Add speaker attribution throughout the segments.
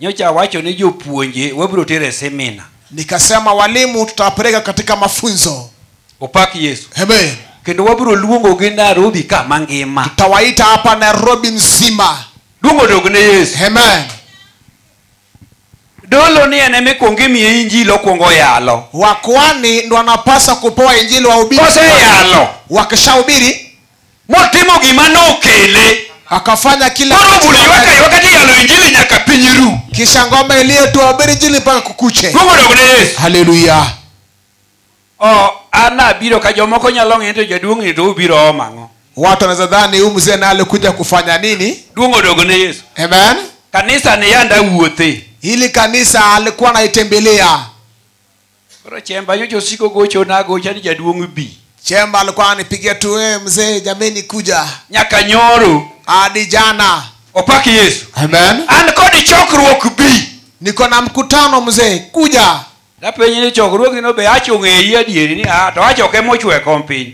Speaker 1: nyocha awacho ni jopuonje wabiro tero e semina nikasema walimu tutawapeleka katika mafunzo opak yesu amen kendo wabiro luongogi nairobi ka mangima tutawaita hapa nairobi mzima luongo dog ne yesu amen
Speaker 2: dolo ni en ema ikwongo imiye injili okwongo yalo wakwani ndo
Speaker 1: wanapaswa kupewa injili wahubiri Kose yalo.
Speaker 2: wakishahubiri
Speaker 1: motimo
Speaker 2: gima nokele akafanya kila
Speaker 1: koro kitu bula ywaka ywaka ti yalo
Speaker 2: injili nyaka piny ru kisha ngoma
Speaker 1: iliyotoa habari jili mpaka kukuche gwogodog ne yesu haleluya o
Speaker 2: an abiro ka jomoko nyalo ng'e to jaduong'ni to ubiro omo ang'o watu wanaweza dhani
Speaker 1: huyu mzee na alikuja kufanya nini duong' odogo ne yesu
Speaker 2: amen
Speaker 1: kanisa ni yanda
Speaker 2: wuothe hili kanisa
Speaker 1: alikuwa anaitembelea
Speaker 2: Koro chemba nyocha osiko gochona agocha ni jaduong' bi. Chemba alikuwa
Speaker 1: anipigia tu wewe mzee, jameni kuja Nyaka nyoro.
Speaker 2: hadi jana.
Speaker 1: Opak Yesu.
Speaker 2: Amen. An kod
Speaker 1: chokruok
Speaker 2: bi. Niko na mkutano
Speaker 1: mzee, kuja. Napenje ni
Speaker 2: chokruogino be achung' e iyi adieri ni ah to achoke mochwe kom piny.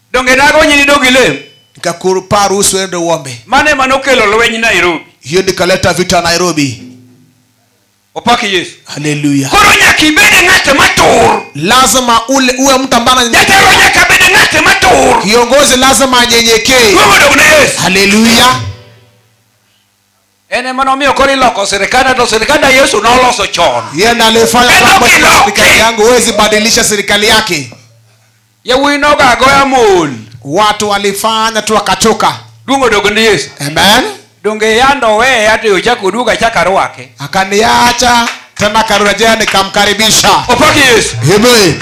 Speaker 1: donge
Speaker 2: nagonyi ni dog ilem nikakuru paa
Speaker 1: ruhusu uende uombe mano ema nokelo lweny
Speaker 2: nairobi hiyo ndikaleta vita
Speaker 1: nairobi
Speaker 2: opak yesu haleluya koro nyaka
Speaker 1: ibed
Speaker 2: ng'at matur lazima ule
Speaker 1: uwe mtu ambaye ananye- jatelo nyaka bed
Speaker 2: ng'at matur kiongozi lazima
Speaker 1: anyenyekee wewe dog ne yesu haleluya
Speaker 2: en ema nomiyo koro iloko sirikanda to sirikanda yesu noloso chon yeye ndiye aliyefanya Neno
Speaker 1: kwamba sina kiloki. serikali yangu huwezi badilisha serikali yake yawuyi
Speaker 2: nogagoya mul watu
Speaker 1: walifanya tu wakachoka duong' odogo ni yesu
Speaker 2: amen
Speaker 1: donge yando
Speaker 2: oweye ati ochako oduogo achako arwake akaniacha
Speaker 1: tena akarejea nikamkaribisha opaki yesu
Speaker 2: amen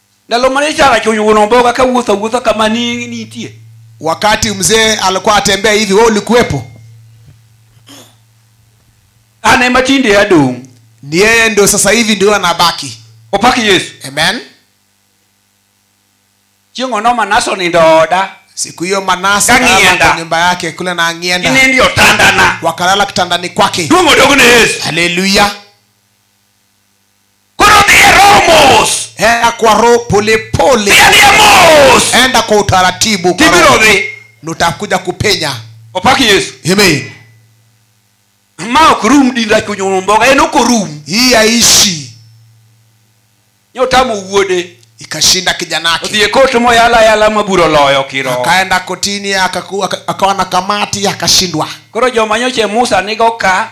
Speaker 2: ndalo mane characho oyugo nomboga ka wuotho awuotha kama ni- nitie wakati mzee
Speaker 1: alikuwa atembea hivi we ulikuwepo
Speaker 2: an ema tinde adong' ni yeye ndio
Speaker 1: sasa hivi ndio anabaki opak yesu
Speaker 2: amen chieng' ono manaso nindo oda siku hiyo manasa
Speaker 1: Kang'ienda. akalala kwa nyumba yake kule na angienda inindi otandana
Speaker 2: wakalala kitandani
Speaker 1: kwake duong' odog ne yesu
Speaker 2: haleluya koro dhi e roho mos enda kwa roho
Speaker 1: polepole dhi adhiya mos enda kwa utaratibu kwa tibiro roho. dhi
Speaker 2: nutakuja
Speaker 1: kupenya opak yesu
Speaker 2: amen ma ok rum dinda chunyuno mboga en ok orum hii yaishi nyotamo wuode ikashinda kijana
Speaker 1: yake odhi e kot moyala ayala
Speaker 2: ma buro loyo kiroho akaenda kotini
Speaker 1: akaku- aka- akawa na kamati akashindwa koro joma nyoche
Speaker 2: musa nigo ka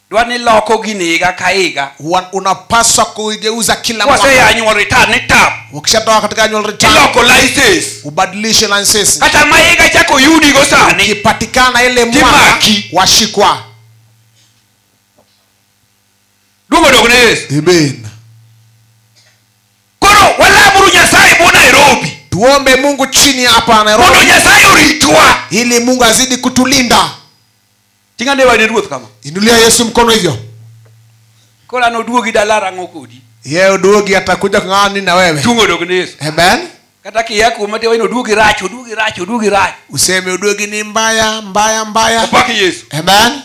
Speaker 2: dwa ni loko gini higa ka higa Huwa unapaswa
Speaker 1: kuigeuza kila mwaka waseya nyuol retire ni
Speaker 2: tap ukishatoka katika annual
Speaker 1: return iloko license
Speaker 2: ubadilishe license
Speaker 1: kata ma higa chako
Speaker 2: yudigo sani ikipatikana ile mwaka
Speaker 1: Kimaki. washikwa
Speaker 2: duogo dog ne yesu amen koro walamuru nyasaye bo nairobi tuombe mungu
Speaker 1: chini hapa mondo nairobi nyasaye oritwa
Speaker 2: ili mungu azidi
Speaker 1: kutulinda
Speaker 2: ting' ane wade ruoth kama inulia yesu mkono hivyo koro an oduogi dala rang'o kodi ye uduogi
Speaker 1: atakuja kung'ani na wewe tung' odog ne yesu amen
Speaker 2: kata
Speaker 1: kiya kuoma
Speaker 2: te waino oduogi rach oduogi rach oduogi rach
Speaker 1: useme uduogi ni mbaya mbaya mbaya opaki
Speaker 2: yesu amen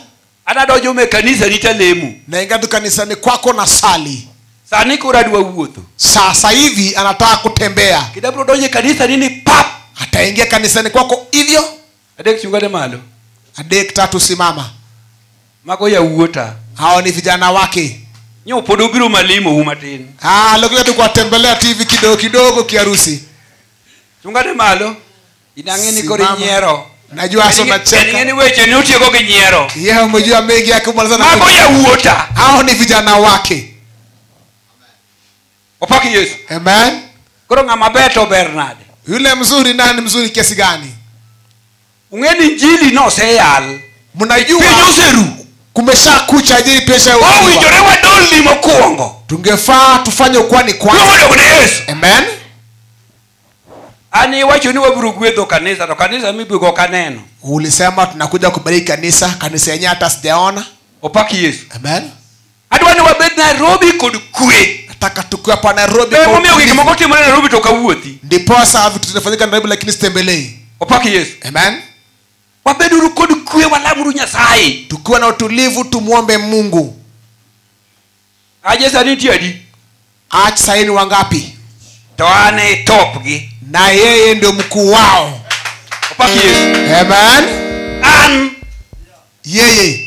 Speaker 1: ana donjo me
Speaker 2: kanisa rita lemu naingia tu kanisani
Speaker 1: kwako na sali sani koro adwa
Speaker 2: wuotho sasa hivi
Speaker 1: anataka kutembea kidabro donjo e kanisa
Speaker 2: nini pap ataingia kanisani
Speaker 1: kwako hivyo adek chungane
Speaker 2: malo adek tatu
Speaker 1: simama mago
Speaker 2: yawuota hao ni vijana
Speaker 1: wake nyo pod obiro
Speaker 2: malimo u matin ah, alikuja tu
Speaker 1: kuwatembelea tu hivi kidogo kidogo kiharusi chungane
Speaker 2: malo inang'e ni koro Simama. inyiero najua hasa Inang'e
Speaker 1: unacheka ni weche ni utieko
Speaker 2: gi nyiero yeye umejua mengi
Speaker 1: yake umaliza na mago yawuota
Speaker 2: hao ni vijana
Speaker 1: wake
Speaker 2: opaki yesu Amen.
Speaker 1: koro ng'ama ber
Speaker 2: to ber nade Yule mzuri
Speaker 1: nani mzuri kiasi gani? ung'e
Speaker 2: ni njili noseyal piny Mnajua
Speaker 1: oseru
Speaker 2: kumesha
Speaker 1: kucha ajili pesha owinjore wadolni
Speaker 2: mokwongo tungefaa tufanye
Speaker 1: ukwani kwanza. nowadok ne yesu Amen.
Speaker 2: an iwacho ni wabiro gwedho kanisa to kanisa mibiro ok aneno Ulisema tunakuja
Speaker 1: kubariki kanisa, kanisa yenyewe hata sijaona. opaki yesu
Speaker 2: Amen.
Speaker 1: adwa ni wabed
Speaker 2: nairobi kod kwe nataka tukiwa pa
Speaker 1: nairobi kwa emomiyo gik utulivu. moko timore
Speaker 2: nairobi to kawuothi ndiposa vitu
Speaker 1: zinafanyika nairobi lakini sitembelei opaki yesu
Speaker 2: amen
Speaker 1: wabeduru
Speaker 2: kod kwe walamuru nyasaye tukiwa na utulivu
Speaker 1: tumwombe mungu
Speaker 2: aje sani nitie adi ach saini
Speaker 1: wangapi to an e
Speaker 2: topgi na yeye ndio
Speaker 1: mkuu wao opaki
Speaker 2: yesu amen an
Speaker 1: yeye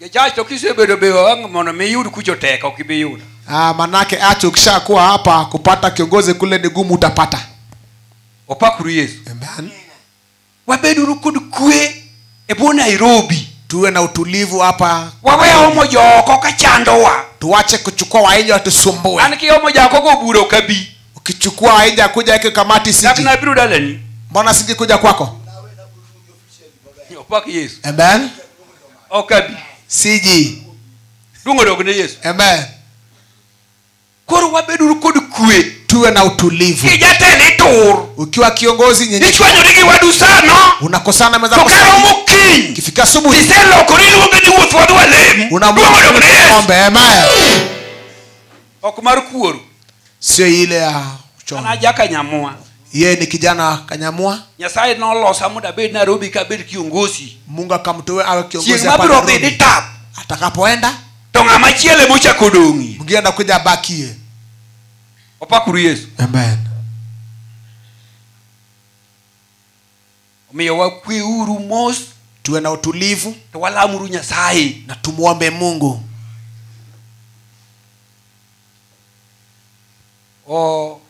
Speaker 2: Jachurch to kisebedo be wang' mondo mi iyud kucho tek ok ibi yudo. Ah, manake
Speaker 1: acha ukishakuwa hapa kupata kiongozi kule ni gumu utapata.
Speaker 2: Opakuru Yesu. Amen.
Speaker 1: Wabeduru
Speaker 2: kod kwe e bwo Nairobi. Tuwe na utulivu
Speaker 1: hapa. Wawe omo
Speaker 2: joko ka chandowa. Tuache kuchukua
Speaker 1: wainja watusumbue. An ki omo jako go
Speaker 2: buro kabi. Ukichukua wainja
Speaker 1: kuja hiki kamati siji. Lakini abiro dalani.
Speaker 2: Mbona siji kuja
Speaker 1: kwako? opak
Speaker 2: yesu amen
Speaker 1: ok abi
Speaker 2: siji
Speaker 1: duong'
Speaker 2: odog ne yesu amen koro wabeduru kod kwe tuwe na utulivu
Speaker 1: kijatend itur
Speaker 2: ukiwa kiongozi
Speaker 1: nyenye ichwanyori gi wadu
Speaker 2: sano unakosana meza to
Speaker 1: karo mokinyi
Speaker 2: ukifika asubuhi
Speaker 1: iselokori iluonge
Speaker 2: ni wuoth wadwa lem duong' odog ne yesu ombe
Speaker 1: amen
Speaker 2: ok mar kuoru sio ile
Speaker 1: ya an uchoni aja
Speaker 2: kanyamua yeye ni kijana
Speaker 1: kanyamua nyasaye nolosa
Speaker 2: mondo abed nairobi ka abed kiongosi mungu akamtoe
Speaker 1: awe kiongozi chieng' hapa mabiro Nairobi. bedi tap
Speaker 2: atakapoenda
Speaker 1: to ng'ama
Speaker 2: chielo ema ochako odong'i mwingine anakuja abakie opakuru yesu amen omiyo wakweuru mos tuwe na utulivu
Speaker 1: to walamuru nyasaye
Speaker 2: na tumwombe
Speaker 1: mungu
Speaker 2: o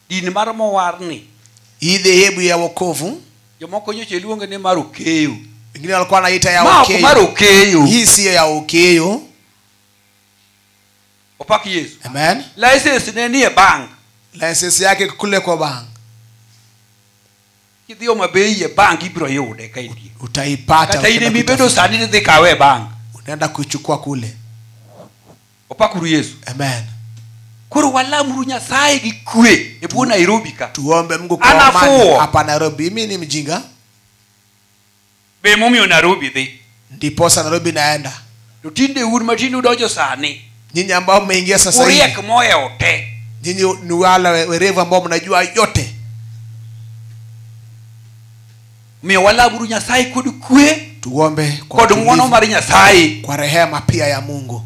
Speaker 2: din mar mowarni hii dhehebu
Speaker 1: ya wokovu jomoko nyocha iluonge
Speaker 2: ni mar okeyo wengine walikuwa wanaita
Speaker 1: ya ma ok mar okeyo okeyo hii
Speaker 2: siyo ya
Speaker 1: okeyo
Speaker 2: opak yesu amen license
Speaker 1: ne nie
Speaker 2: bank license yake
Speaker 1: kule kwa bank
Speaker 2: kidhi homa bay e bank ibiro yude ka itie utaipata kata in ukienda
Speaker 1: emibedo kuitafuta.
Speaker 2: sani nidhi kawe e bank unaenda kuichukua
Speaker 1: kule
Speaker 2: opakuru yesu amen
Speaker 1: koro
Speaker 2: walamuru nyasaye gi kwe e bwo nairobi ka tuombe mungu kwa Anafuo.
Speaker 1: amani hapa nairobi mi ni mjinga
Speaker 2: be emomiyo narobi dhi ndiposa nairobi
Speaker 1: naenda to tinde un
Speaker 2: matinde udonjo sani nyinyi ambao mmeingia
Speaker 1: sasa hivi uriek mohewo te
Speaker 2: nyinyi ni wale
Speaker 1: we- werevu ambao mnajua yote
Speaker 2: miyo walaburu nyasaye kod kwe
Speaker 1: tuombe kwa kod ng'wono utulivu,
Speaker 2: mar nyasaye kwa rehema pia ya
Speaker 1: mungu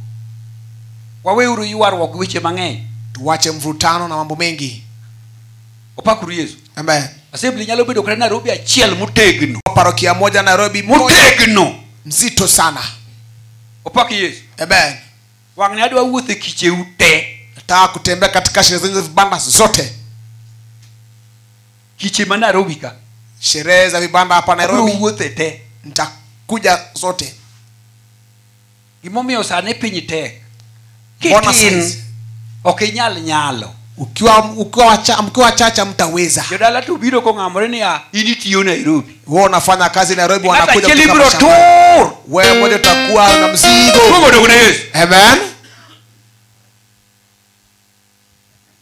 Speaker 2: waweuru ywaruok gi weche mang'eny tuwache mvutano
Speaker 1: na mambo mengi
Speaker 2: opakuru yesu amen Assembly
Speaker 1: nyalo bedo kata
Speaker 2: Nairobi achiel motegno. parokia moja
Speaker 1: nairobi moja Motegno.
Speaker 2: mzito sana
Speaker 1: Opak
Speaker 2: Yesu. amen
Speaker 1: Wang' ne adwa
Speaker 2: wuotho e kicheu te. nataka kutembea
Speaker 1: katika sherehe zenye vibanda zote
Speaker 2: Kiche ma Nairobi ka. sherehe za vibanda
Speaker 1: hapa Abiro nairobi wuothe te.
Speaker 2: nitakuja
Speaker 1: zote gimomiyo
Speaker 2: sani piny tek Mbona kitin saizi? ok inyal nyalo ukiwa ukiwa wacha-
Speaker 1: mkiwa wachache hamtaweza jodala to biro kong'amore
Speaker 2: niya in itiyo nairobi wewe unafanya kazi
Speaker 1: nairobi Ng'at wanakuja achiel kutoka ibiro mashambani.
Speaker 2: tur wewe mmoja utakuwa
Speaker 1: na mzigo Kuogo dog ne yesu
Speaker 2: amen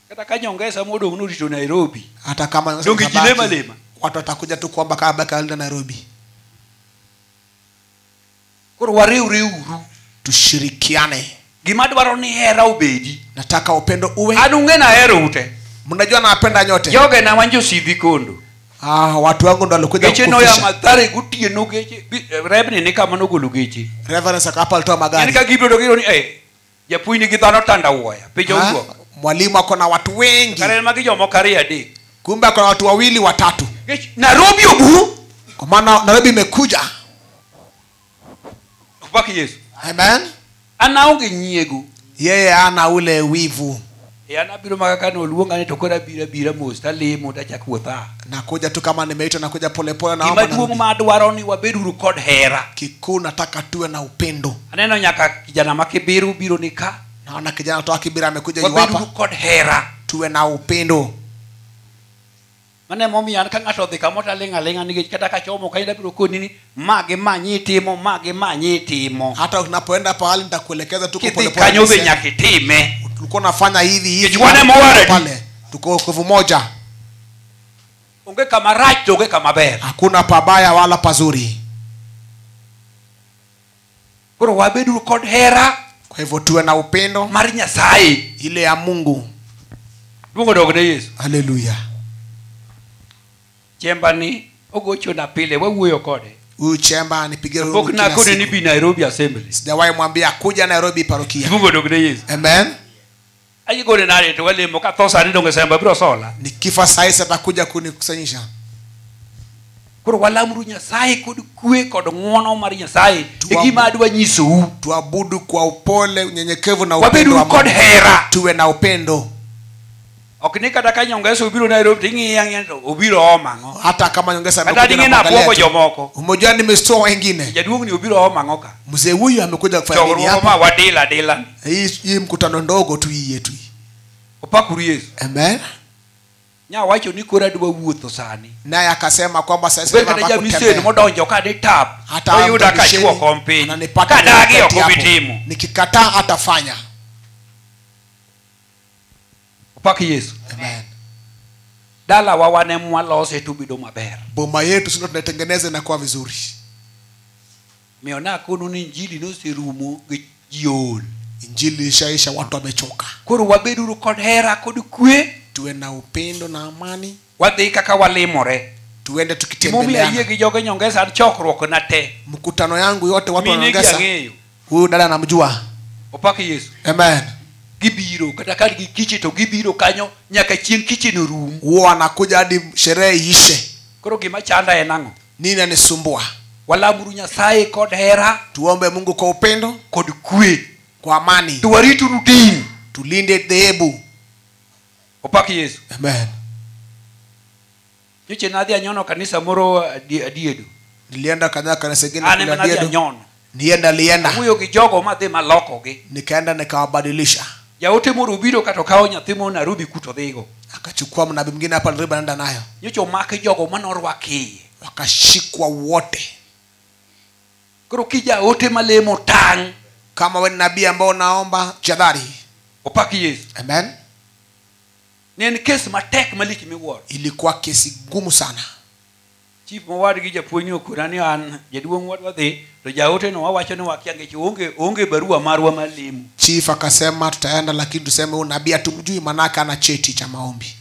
Speaker 2: kata ka nyongesa modong' norito nairobi hata kama Ndio
Speaker 1: kabaki, kijilema lema.
Speaker 2: watu watakuja tu
Speaker 1: kuomba kabla kaenda nairobi
Speaker 2: koro wariwre uru tushirikiane
Speaker 1: gima adwaro
Speaker 2: ni hera obedi nataka upendo
Speaker 1: uwe an ung'e nahero ute
Speaker 2: mnajua nawapenda
Speaker 1: nyote joge na wan josidhi
Speaker 2: kondo ah, watu wangu
Speaker 1: ndo walikuja geche noya kukufisha. mathare
Speaker 2: gotieno geche bi- eh, rebni ni kama nogolo geche reverence akapa alitoa yani
Speaker 1: magari ka gibedo giro ni eh,
Speaker 2: japuonj nigi dhano tanda wuoya piny Ha? owuok mwalimu ako na watu
Speaker 1: wengi kare en magi jomoko ariyo
Speaker 2: adek kumbe ako na watu
Speaker 1: wawili watatu Nikech nairobi
Speaker 2: obu kwa maana nairobi
Speaker 1: imekuja
Speaker 2: opak yesu amen
Speaker 1: anaonge
Speaker 2: nyiego yeye ana
Speaker 1: ule wivu E an abiro maka
Speaker 2: kane oluonga ni to koro abiro abira mos talemo tachak wuotha. Nakuja tu kama
Speaker 1: nimeitwa, nakuja polepole na Gima duong' ma adwaro ni wabed
Speaker 2: uru kod hera. kikuu, nataka
Speaker 1: tuwe na upendo. Aneno nyaka kijana
Speaker 2: ma Kibiru biro ni ka. Naona kijana toka
Speaker 1: Kibira amekuja Wabed uru yuwapa, kod hera.
Speaker 2: tuwe na upendo. mano emomiyo an ka ng'ato odhi kamoro to aling' aling'a nikech kata ka chomo kanyo abiro koni ni ma gi ma nyi itimo ma gi ma nyi itimo hata unapoenda pahali
Speaker 1: nitakuelekeza tuko kidhi polepole kanyo be niseme, nyaka
Speaker 2: itime tulikuwa nafanya
Speaker 1: hivi hivi Kichwani hadi mwaradi. pale
Speaker 2: tuko wokovu
Speaker 1: moja
Speaker 2: onge kama rach to onge kama ber hakuna pabaya wala
Speaker 1: pazuri
Speaker 2: koro wabeduru kod hera kwa hivyo tuwe na
Speaker 1: upendo mar nyasaye
Speaker 2: ile ya mungu
Speaker 1: luongo
Speaker 2: dog ne yesu haleluya chemba ni ogochona pile wawuoyo kode huyu chemba
Speaker 1: nipigie roho pok kila nakone ni siku. bi
Speaker 2: nairobi assembly sijawahi mwambia kuja
Speaker 1: nairobi parokia luongo dog ne yesu
Speaker 2: amen
Speaker 1: ayigole
Speaker 2: nalete walimo katosa nende ungesemba biro sola nikifa saa hizi atakuja
Speaker 1: kunikusanyisha
Speaker 2: koro walamuru nyasaye kod kwe kod ng'wono mar nyasaye Tuwa- e gima adwa nyisou tuabudu kwa
Speaker 1: upole unyenyekevu na upendo wabeduru wa kod Mungu. hera
Speaker 2: tuwe na upendo
Speaker 1: ok
Speaker 2: ni kata ka nyongesa obiro nairobi to ing'iye ang'iya to obiro ooma ang'o hata kama nyongesa kata
Speaker 1: amekuja ding'e na nabuogo kuangalia
Speaker 2: tu. jomoko umejua nimestua
Speaker 1: wengine jaduong'ni obiro ooma
Speaker 2: ang'o ka mzee huyu amekuja
Speaker 1: kufanya nini chokruok hapa ma wadila dila
Speaker 2: hii hii mkutano
Speaker 1: ndogo tu hii yetu hii. opakuru
Speaker 2: yesu amen nyawacho ni koro adwa wuotho sani naye akasema
Speaker 1: kwamba sasa hivi obed kata nataka jamiseni kutembea.
Speaker 2: modonjo kane tap hata oyuda mtu misheni kachuo kom piny ananipata kadagi kwenye wakati ok obi hapo. timo nikikataa
Speaker 1: atafanya
Speaker 2: opak yesu amen dalawa wan em walose tubedo maber boma yetu sindo
Speaker 1: tunaitengeneza inakuwa vizuri
Speaker 2: Omiyo nakono ni injili noserumo gi ji ool. Injili
Speaker 1: ishaisha, watu wamechoka. Koro wabeduru kod
Speaker 2: hera kod kwe. Tuwe na upendo
Speaker 1: na amani. Wadhi kaka
Speaker 2: walimore. Tuende tukitembeleana.
Speaker 1: Mimi ayie gi joge nyongesa
Speaker 2: chokruok na te. Mkutano yangu yote
Speaker 1: watu wanaongeza. Huyu dada anamjua. Opake Yesu.
Speaker 2: Amen
Speaker 1: gibiro
Speaker 2: kata ka gi kiche to gibiro kanyo nyaka chieng' kiche no rum. Wanakuja hadi
Speaker 1: sherehe ishe. Koro gima chanda
Speaker 2: en ang'o? nini nanisumbua
Speaker 1: walamuru
Speaker 2: nyasaye kod hera tuombe mungu kwa
Speaker 1: upendo kod kwe
Speaker 2: kwa amani to
Speaker 1: warituru din
Speaker 2: tulinde dhehebu opak yesu amen nyoche nadhi anyono kanisa moro adi- adiedo nilienda kadhaa
Speaker 1: kanisa ingine an kule ema nadhi Adiedo. anyono
Speaker 2: nienda lienda
Speaker 1: awuoyo gi jogo
Speaker 2: madhi malokogi nikaenda nikawabadilisha
Speaker 1: jaote moro
Speaker 2: obiro kato kawo nyathi mo narobi kuto dhigo akachukua mnabii mwingine
Speaker 1: hapa nairobi anaenda nayo nyocha omaki jogo
Speaker 2: manorwak iye wakashikwa
Speaker 1: wote
Speaker 2: koro kijaote malemo tang' kama we ni nabii
Speaker 1: ambao unaomba jadhari opak yesu
Speaker 2: amen ne en kes matek malich miwuoro ilikuwa kesi
Speaker 1: ngumu sana chief
Speaker 2: mowadgi japuonjni okona ni an jaduong' wadwa dhi to jaote no wawacho ni wakia ngech onge onge barua marwa mar lemo chief akasema
Speaker 1: tutaenda lakini tuseme huyu nabii hatumjui manake ana cheti cha maombi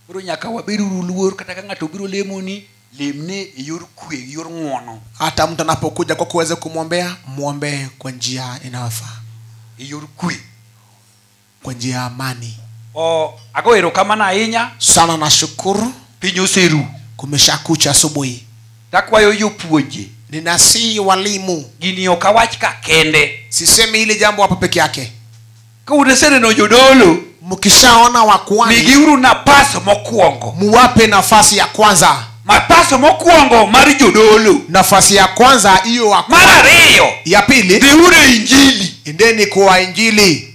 Speaker 2: koro nyaka
Speaker 1: wabed
Speaker 2: uru luor kata ka ng'ato obiro lemoni lemne e yor kwe e yor ng'wono hata mtu anapokuja
Speaker 1: kwa kuweze kumwombea mwombee kwa njia inayofaa e yor kwe
Speaker 2: kwa
Speaker 1: njia ya amani o ago
Speaker 2: erokamano ahinya sana na shukuru
Speaker 1: piny oseru
Speaker 2: kumeshakucha
Speaker 1: asubuhi takwayo
Speaker 2: jopuonje ninasihi
Speaker 1: walimu gini ok awach ka
Speaker 2: kende sisemi hili jambo
Speaker 1: hapa peke yake ka uneseneno
Speaker 2: jodolo mkishaona
Speaker 1: wa kwani migiuru napas
Speaker 2: mokwongo muwape nafasi
Speaker 1: ya kwanza mapas mokwongo
Speaker 2: mar jodolo nafasi ya kwanza
Speaker 1: hiyo wa mar ariyo ya
Speaker 2: pili dhiuru
Speaker 1: e injili
Speaker 2: endeni kwa
Speaker 1: injili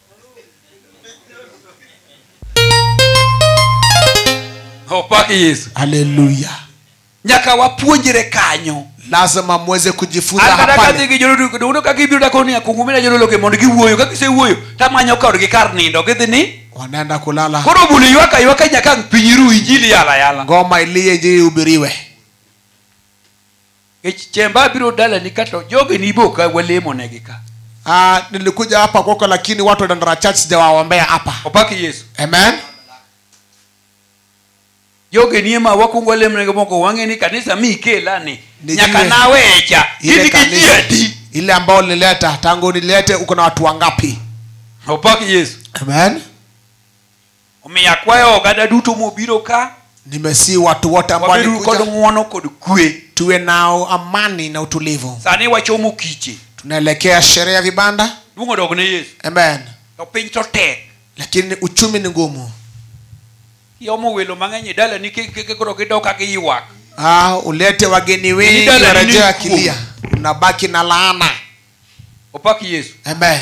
Speaker 2: opak yesu haleluya
Speaker 1: nyaka
Speaker 2: wapuonjre kanyo lazima muweze
Speaker 1: kujifunza an kata kadhi hapale gi jodolo dono
Speaker 2: ka gibiro dako ni akungumina jodologe mondo giwuoyo ka gisewuoyo tamanyo kodgi kar nindo gidhi ni wanaenda kulala
Speaker 1: koro bul ywaka ywaka
Speaker 2: nyaka ang' piny ru injili yala yala ngoma iliye injili
Speaker 1: ihubiriwe
Speaker 2: Nikech chemba abiro dalani ka to jogi ni ibo ka walemo negi ka. Ah, nilikuja
Speaker 1: hapa kwako lakini watu wa Dandora Church sijawaombea hapa. Opak Yesu. Amen.
Speaker 2: Jogi ni ema wakwongo walemo negi moko wang'e ni kanisa mi ikela ni. Ni Nyaka ile- nawecha. Ile Gin gi ji kanisa adi. ile ambayo nilileta
Speaker 1: tangu nilete uko na watu wangapi? Opak
Speaker 2: Yesu. Amen.
Speaker 1: omiyo akwayo
Speaker 2: oganda duto mobiro ka nimesii watu
Speaker 1: wote ambao wabedu kod walikuja ng'wono kod
Speaker 2: kwe tuwe na
Speaker 1: amani na utulivu sani wachomo kiche
Speaker 2: tunaelekea sherehe
Speaker 1: ya vibanda luong odog ne yesu
Speaker 2: amen to piny
Speaker 1: to
Speaker 2: tek lakini uchumi
Speaker 1: ni ngumu
Speaker 2: iomo welo mang'eny e dala nikech koro gidok ka giywak ah, ulete
Speaker 1: wageni wengi Dala ni warejea nini akilia unabaki na laana opak
Speaker 2: yesu amen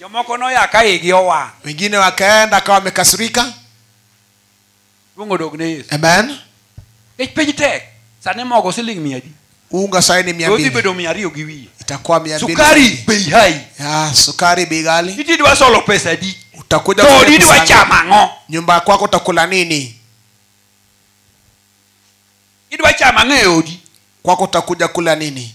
Speaker 2: jomoko noya ka igi owang' wengine wakaenda
Speaker 1: akawa wamekasirika
Speaker 2: luong odog ne yesu amen
Speaker 1: nikech piny
Speaker 2: tek sani mogo siling mia adi unga sai ni mia
Speaker 1: dodhi mbili bedo mia ariyo gi wiye
Speaker 2: itakuwa mia mbili sukari
Speaker 1: bei hai
Speaker 2: ya sukari bei
Speaker 1: ghali iti idwa solo pesa adi
Speaker 2: utakuja to kwenye odi idwa
Speaker 1: pesa chamo ngapi?
Speaker 2: ang'o nyumba kwako utakula
Speaker 1: nini
Speaker 2: idwa chamo ang'o e odi kwako utakuja
Speaker 1: kula nini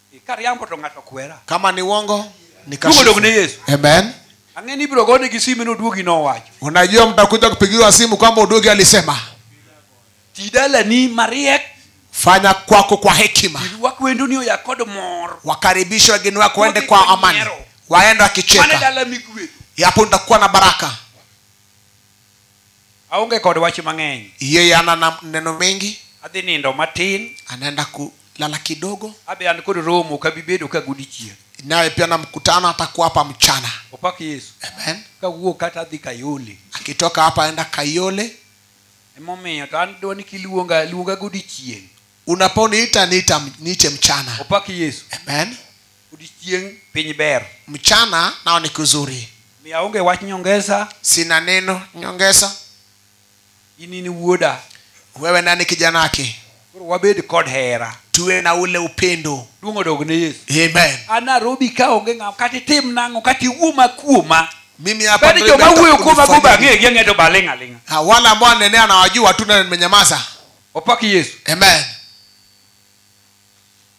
Speaker 2: kariambo to ng'ato kwera kama ni uongo Duogo
Speaker 1: nikashifu. dog ne Yesu. amen
Speaker 2: ang'e
Speaker 1: ni ibiro gone
Speaker 2: gi simu ni oduogi nowacho unajua mtakuja
Speaker 1: kupigiwa simu kwamba udugi alisema ti
Speaker 2: dalani mariek fanya
Speaker 1: kwako kwa hekima irwak wendoni oya kod
Speaker 2: mor wakaribishe wageni
Speaker 1: wako waende kwa amani waende mane wakicheka dala migwedho
Speaker 2: yapo nitakuwa na
Speaker 1: baraka
Speaker 2: aonge kod wach mang'eny Hiyo yana na
Speaker 1: neno mengi, adhi nindo matin
Speaker 2: anaenda kulala
Speaker 1: kidogo, abe an kod romo
Speaker 2: kabibedo ka godichieng naye pia na
Speaker 1: mkutano atakuwa hapa mchana. opak yesu
Speaker 2: Amen. kawuok
Speaker 1: kata adhi
Speaker 2: kayole Akitoka hapa aenda
Speaker 1: Kayole, emomiyo
Speaker 2: to an dwani kiluonga luonga godichieng unaponiita
Speaker 1: niita niite mchana. opak yesu Amen. odiechieng'
Speaker 2: piny ber mchana nao
Speaker 1: ni kuzuri mi aonge wach
Speaker 2: nyongesa sina neno
Speaker 1: nyongesa
Speaker 2: in in wuoda wewe nani
Speaker 1: kijanaki koro wabed kod
Speaker 2: hera tuwe na ule
Speaker 1: upendo duong' odog ne yesu
Speaker 2: amen an narobi
Speaker 1: ka onge
Speaker 2: ng'am kata itim nang'o kata iwuoma kuoma mimi hapa bani Nairobi
Speaker 1: joma nataka wuoyo kuoma go
Speaker 2: kujifanyia. bang'egi ang'e to baling' aling'a Ah, wale ambao wanenea
Speaker 1: nawajua tu na nimenyamaza opaki yesu
Speaker 2: amen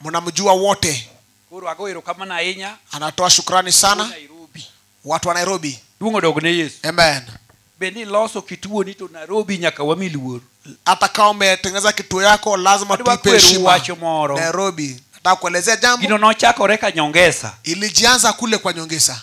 Speaker 2: mnamjua wote
Speaker 1: koro ago erokamano
Speaker 2: ahinya anatoa shukrani Wuod sana
Speaker 1: nairobi watu wa nairobi duong' odog ne yesu
Speaker 2: amen be
Speaker 1: ni loso
Speaker 2: kituoni to nairobi nyaka wami luor hata kama
Speaker 1: umetengeneza kituo yako lazima Adwa tuipe kweru heshima wacho moro. nairobi nataka kuelezea jambo gino nochakore ka
Speaker 2: nyongesa ilijianza kule
Speaker 1: kwa nyongesa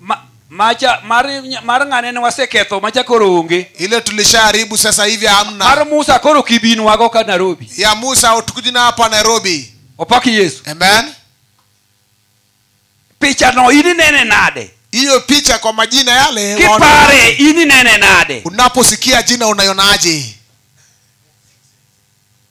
Speaker 2: Ma- macha mar, mar ng'ane ne waseketho macha koro onge ile tulishaharibu
Speaker 1: sasa hivi mar hamna musa koro
Speaker 2: kibinwago ka nairobi ya musa utukujina
Speaker 1: hapa nairobi opak yesu
Speaker 2: amen pichano in inene nade hiyo picha kwa
Speaker 1: majina yale waona- kipare in
Speaker 2: inene nade unaposikia jina
Speaker 1: unaionaje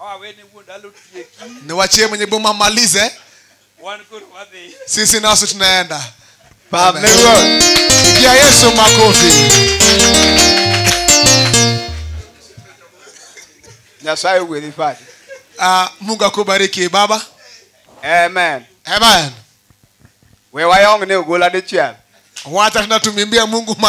Speaker 1: awawene wuon dalo tieki niwachie mwenye boma malize wan koro wadhi sisi nasi tunaenda Pam ne ruoth. pigia yesu makofi
Speaker 3: Nyasaye ogwedhi Fadi. Ah, mungu
Speaker 1: akubariki baba Amen.
Speaker 3: amen We wayong ne ogola
Speaker 1: dichiel.
Speaker 3: wacha
Speaker 1: tunatumimbia
Speaker 3: mungu ma